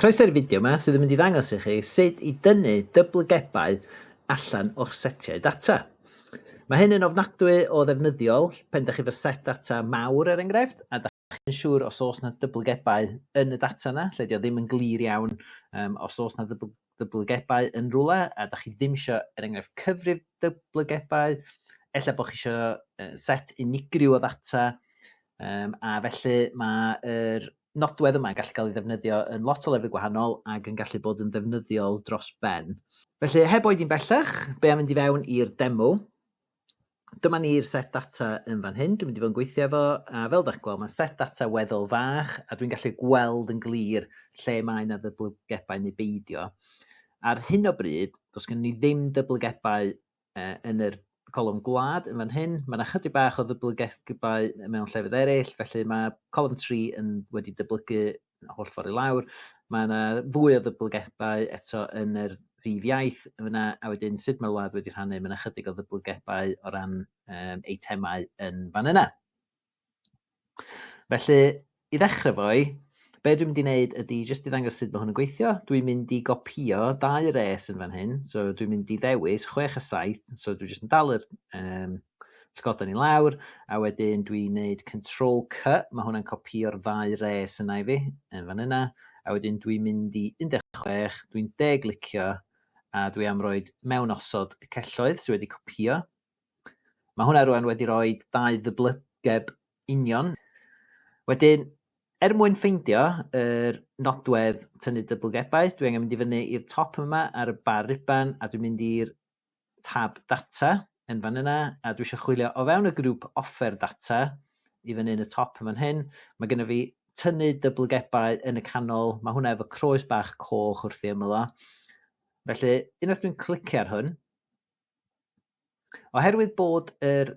Croeso i'r fideo yma sydd yn mynd i ddangos i chi sut i dynnu dyblygebau allan o'ch setiau data. Mae hyn yn ofnadwy o ddefnyddiol pen da chi fy set data mawr er enghraifft a da chi'n siŵr os oes na dyblygebau yn y data yna, lle di o ddim yn glir iawn um, os oes na ddyblygebau yn rhywle a da chi ddim eisiau er enghraifft cyfrif dyblygebau, efallai bod chi eisiau set unigryw o ddata um, a felly mae'r er, nodwedd yma yn gallu cael ei ddefnyddio yn lot o lefydd gwahanol ac yn gallu bod yn ddefnyddiol dros ben. Felly, heb oedi'n bellach, be am fynd i fewn i'r demo? Dyma ni'r set data yn fan hyn, dwi'n mynd i fod yn gweithio efo, a fel ydych gweld, mae'n set data weddol fach, a dwi'n gallu gweld yn glir lle mae yna ddyblygebau neu beidio. Ar hyn o bryd, does gen ni ddim dyblygebau uh, yn yr colwm gwlad yn fan hyn. Mae yna chydig bach o ddyblygaethgybau mewn llefydd eraill, felly mae colwm 3 yn wedi dyblygu holl ffordd i lawr. Mae yna fwy o ddyblygebau eto yn yr rhif iaith yna, a wedyn sut mae'r wlad wedi rhannu, mae yna chydig o ddyblygebau o ran um, eitemau yn fan yna. Felly, i ddechrau fo'i, be dwi'n mynd i wneud ydy jyst i ddangos sut mae hwn yn gweithio. Dwi'n mynd i gopio dau res yn fan hyn, so dwi'n mynd i ddewis 6 a 7, so dwi'n jyst yn dal yr um, llgoden i lawr, a wedyn dwi'n gwneud control C, mae hwnna'n copio'r ddau res yna i fi, yn fan yna, a wedyn dwi'n mynd i 16, dwi'n deglicio, a dwi am roed mewn osod y celloedd sydd wedi copio, Mae hwnna rwan wedi rhoi dau ddyblygeb union. Wedyn, er mwyn ffeindio yr nodwedd tynnu dyblygebau, dwi angen mynd i fyny i'r top yma ar y bar riban a dwi'n mynd i'r tab data yn fan yna a dwi eisiau chwilio o fewn y grŵp offer data i fyny yn y top yma'n hyn. Mae gennym fi tynnu dyblygebau yn y canol, mae hwnna efo croes bach coch wrth ei ymyl o. Felly, unwaith dwi'n clicio ar hwn, Oherwydd bod yr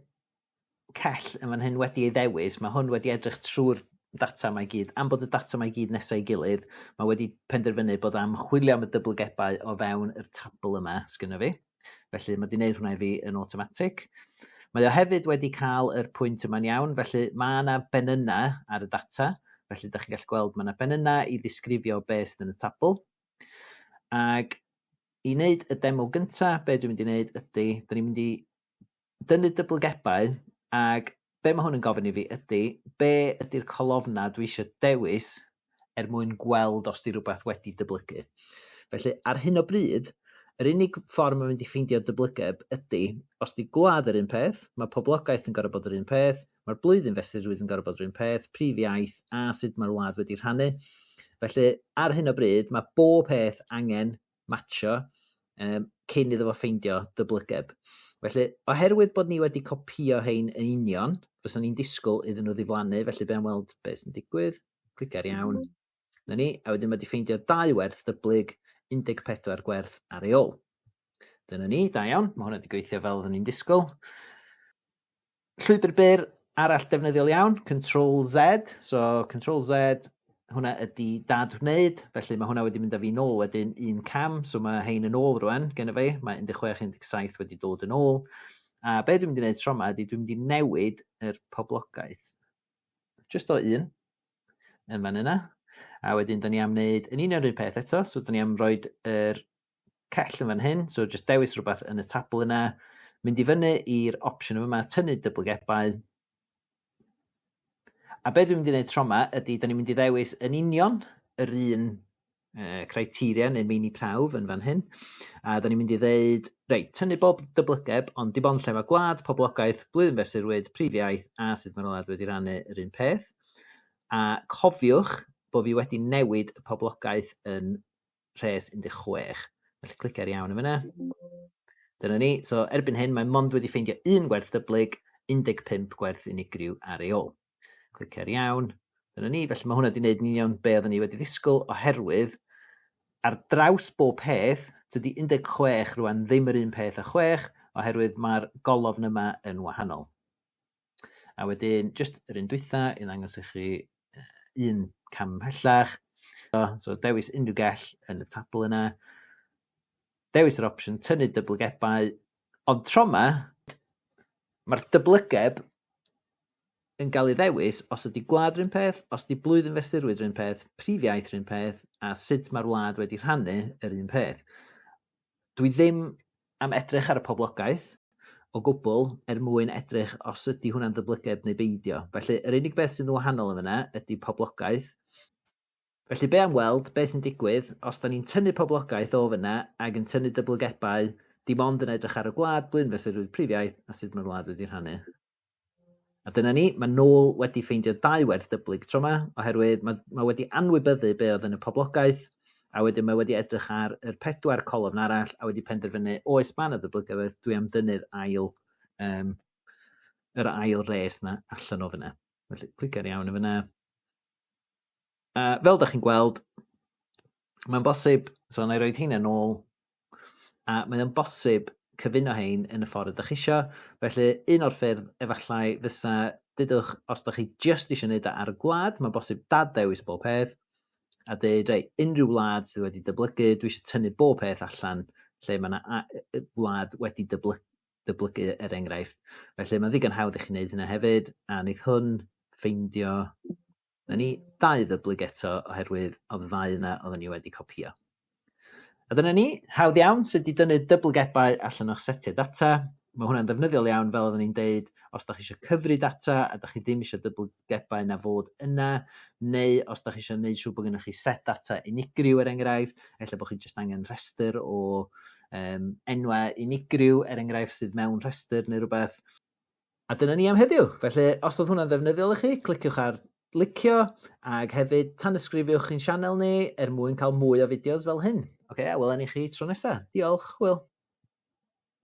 cell yn fan hyn wedi ei ddewis, mae hwn wedi edrych trwy'r data mae gyd, am bod y data mae gyd nesau gilydd, mae wedi penderfynu bod am chwilio am y dyblygebau o fewn yr tabl yma sgynno fi. Felly mae wedi gwneud hwnna i fi yn automatic. Mae o hefyd wedi cael yr pwynt yma'n iawn, felly mae yna ben yna ar y data, felly da chi'n gallu gweld mae yna ben yna i ddisgrifio beth sydd yn y tabl. Ac i wneud y demo gynta, be dwi'n mynd i wneud ydy, da ni'n mynd i dynnu dyblygebau, ac be mae hwn yn gofyn i fi ydy, be ydy'r colofna dwi eisiau dewis er mwyn gweld os di rhywbeth wedi dyblygu. Felly, ar hyn o bryd, yr unig ffordd mae'n mynd i ffeindio dyblygiad ydy, os di gwlad yr un peth, mae poblogaeth yn gorau bod yr un peth, Mae'r blwyddyn fesur rwydd yn gorfod rhywun peth, prif iaith a sut mae'r wlad wedi rhannu. Felly, ar hyn o bryd, mae bob peth angen matcho um, cyn iddo fo ffeindio dyblygeb. Felly, oherwydd bod ni wedi copio hein yn union, fysa ni'n disgwyl iddyn nhw ddiflannu, felly be'n weld beth sy'n digwydd, clic ar iawn, mm. na ni, a wedyn mae wedi ffeindio dau werth dyblyg, 14 gwerth ar ei ôl. Dyna ni, da iawn, mae hwnna wedi gweithio fel oedden ni'n disgwyl. Llwybr byr arall defnyddiol iawn, Control Z. So Control Z, hwnna ydy dad wneud, felly mae hwnna wedi mynd â fi'n ôl wedyn un cam, so mae hein yn ôl rwan gen i fi, mae 16-17 wedi dod yn ôl. A be dwi'n mynd i wneud tro yma ydy dwi'n mynd i newid yr poblogaeth. Just o un, yn fan yna. A wedyn, da ni am wneud yn union yr un peth eto, so da ni am roed yr cell yn fan hyn, so jyst dewis rhywbeth yn y tabl yna, mynd i fyny i'r opsiwn yma, tynnu dyblygebau. A be dwi'n mynd i wneud tro yma ydy, da ni'n mynd i ddewis yn union yr un uh, criteria neu meini prawf yn fan hyn. A da ni'n mynd i ddeud, reit, tynnu bob dyblygeb, ond dim ond lle mae gwlad, poblogaeth, blwyddyn fesurwyd, prif iaith a sut mae'r wlad wedi rannu yr un peth. A cofiwch bod fi wedi newid y poblogaeth yn rhes 16. Felly clic ar iawn yn fyna. Dyna ni. So erbyn hyn mae mond wedi ffeindio un gwerth dyblyg, 15 gwerth unigryw ar ei ôl. Clic ar iawn. Dyna ni. Felly mae hwnna wedi gwneud yn union be oedden ni wedi ddisgwyl oherwydd ar draws bob peth, dydy 16 rwan ddim yr un peth â 6 oherwydd mae'r golofn yma yn wahanol. A wedyn, jyst yr un dwytha i ddangos i chi un cam ymhellach. So, so dewis unrhyw gell yn y tabl yna. Dewis yr opsiwn tynnu dyblygebau. Ond tro yma, mae'r dyblygeb yn cael ei ddewis os ydy gwlad rhywun peth, os ydy blwyddyn fesurwyd rhywun peth, prif iaith rhywun peth, a sut mae'r wlad wedi rhannu yr un peth. dwi ddim am edrych ar y poblogaeth o gwbl er mwyn edrych os ydy hwnna'n ddyblyged neu beidio. Felly, yr unig beth sy'n wahanol yn fyna ydy poblogaeth. Felly, be am weld beth sy'n digwydd os da ni'n tynnu poblogaeth o fyna ac yn tynnu dyblygebau dim ond yn edrych ar y gwlad, blwyddyn fesurrwydd prif iaith a sut mae'r wlad wedi rhannu. A dyna ni, mae Noel wedi ffeindio dau werth dyblyg tro yma, oherwydd mae, mae wedi anwybyddu be oedd yn y poblogaeth, a wedyn mae wedi edrych ar yr pedwar colofn arall a wedi penderfynu, oes mae yna ddyblygaeth, dwi am dynnu'r ail, um, yr ail res yna allan o fyna. Felly, clic ar iawn o fyna. Uh, fel da chi'n gweld, mae'n bosib, so na i roed hynny'n ôl, A mae o'n bosib cyfuno hein yn y ffordd ydych isio, felly un o'r ffyrdd efallai fysa dydwch os ydych chi just isio neud o ar y gwlad, mae'n bosib dad ddewis bob peth a deud rei, unrhyw wlad sydd wedi dyblygu, dwi eisiau tynnu bob peth allan lle mae yna wlad wedi dyblygu dyblygu er enghraifft. Felly mae'n ddigon hawdd i chi wneud hynna hefyd, a wneith hwn ffeindio Newn ni dau ddyblug eto oherwydd o'dd y ddau yna odden ni wedi copïo. A dyna ni, hawdd iawn sut i dynnu dyblygebau allan o'ch setiau data. Mae hwnna'n ddefnyddiol iawn fel oedden ni'n deud os da chi eisiau cyfri data a da chi ddim eisiau dyblygebau na fod yna, neu os da chi eisiau gwneud siŵr bod gennych chi set data unigryw er enghraifft, efallai bod chi jyst angen rhestr o um, enwau unigryw er enghraifft sydd mewn rhestr neu rhywbeth. A dyna ni am heddiw. Felly, os oedd hwnna'n ddefnyddiol i chi, cliciwch ar licio ac hefyd tanysgrifiwch i'n sianel ni er mwyn cael mwy o fideos fel hyn. Oce, okay, a welen i chi tro nesaf. Diolch, Hwyl!